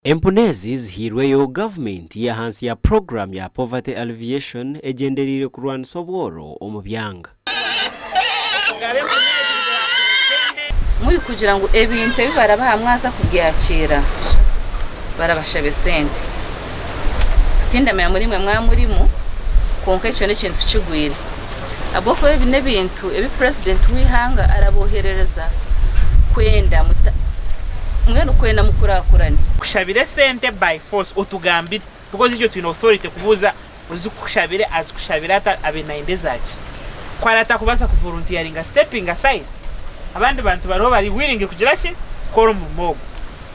Empunu ezi zihairweyo gavumenti y'ahansi ya puroguramu ya Poverty Alleviation egyendereire kurwanisa obworo omu byanga. Muri kugira ngu ebintu ebi barabaha mwaza kubyakira? Barabashabe sente? Tindamanya muri mwe mwaba murimu, kwonka ekyo n'ekintu kigwire. ahabw'okuba ebi n'ebintu ebi Purezidenti w'eihanga arabooherereza kwenda mbwenu kwenda mukurakurane. Kushabira esente by force otugambire because itwe twine authority kubuuza ozikushabire azikushabire ata abe nayenda ezaki? Ku ari atakubaasa ku volunteeringa stepping aside abandi bantu bariho bari willing kugira ki kukora omurimo ogwo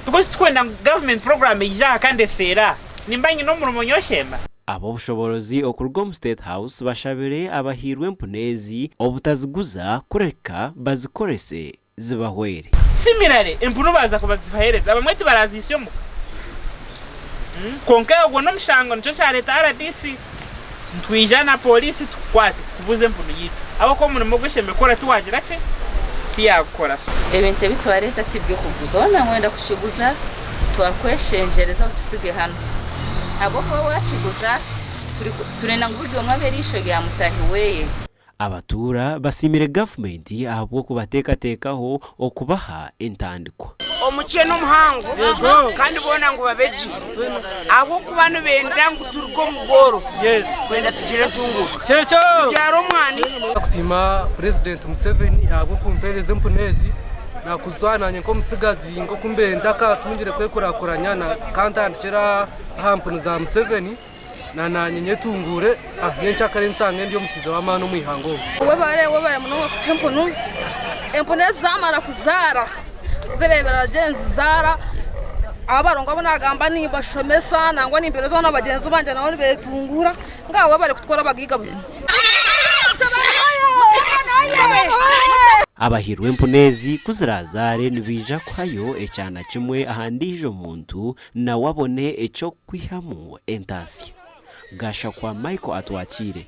because tikwenda ngu government program eyije aha kandi efeere aha nimba nyine omurimo nyowe Shemba? Ab'obushoboorozi okuruga omu State House bashabire abahairwe empunu ezi obutaziguza kureka bazikorese zibahwere. Similarly, empunu baaza kuzibaheereza abamwe tibarazihisya omuka. Kwonka ogwo n'omushango nikyo kyareeta rdc ngu twija na pooriisi tukukwate tukubuze empunu yaitu ahabw'okuba omurimo ogu oshemeriire kukora tiwagira ki, tiyaagukora. Ebintu ebi twareeta ti by'okuguza. Waaba nooyenda kukiguza twakweshengyereza okitsige hanu. ahabw'okuba waakiguza, turenda ngu buri omwe abe eriisho rya mutaahi we. Abatuura basiimire gavumenti ahabw'okubateekateekaho okubaha entandikwa. Omukye n'omuhango kandi boona ngu babe gye ahabw'okuba nibenda ngu turuge omu bworo kwenda tugire entunguuka tubyare omwana. Ndikusiima Purezidenti Museveni ahabw'okumpeereza empunu ezi naakuzitwara naanye nk'omutsigazi. Nk'oku mbaire ntakaatungire kwekurakuranya ka ntandikire aha mpunu za Museveni na naanye nyetunguure aha by'encakara ensanga ndi omutsiizi w'amaani omu ihanga omu. Webare webare munonga kutuha empunu. Empunu ezi zaamara kuzaara tuzireeberera gye nizizaara abarungu abu naagamba nimbashomesa nangwa nimbeereza abaana bagyenzi bangye nabo nibeetunguura. Mbwenu webare kutukora abagaiga buzima. Abahirwe empunu ezi ku ziraazaare nibaija kuhayo ekyana kimwe aha ndiijo muntu nawe abone eky'okukwihamu entaatsya. Gashakwa Michael atwakiire.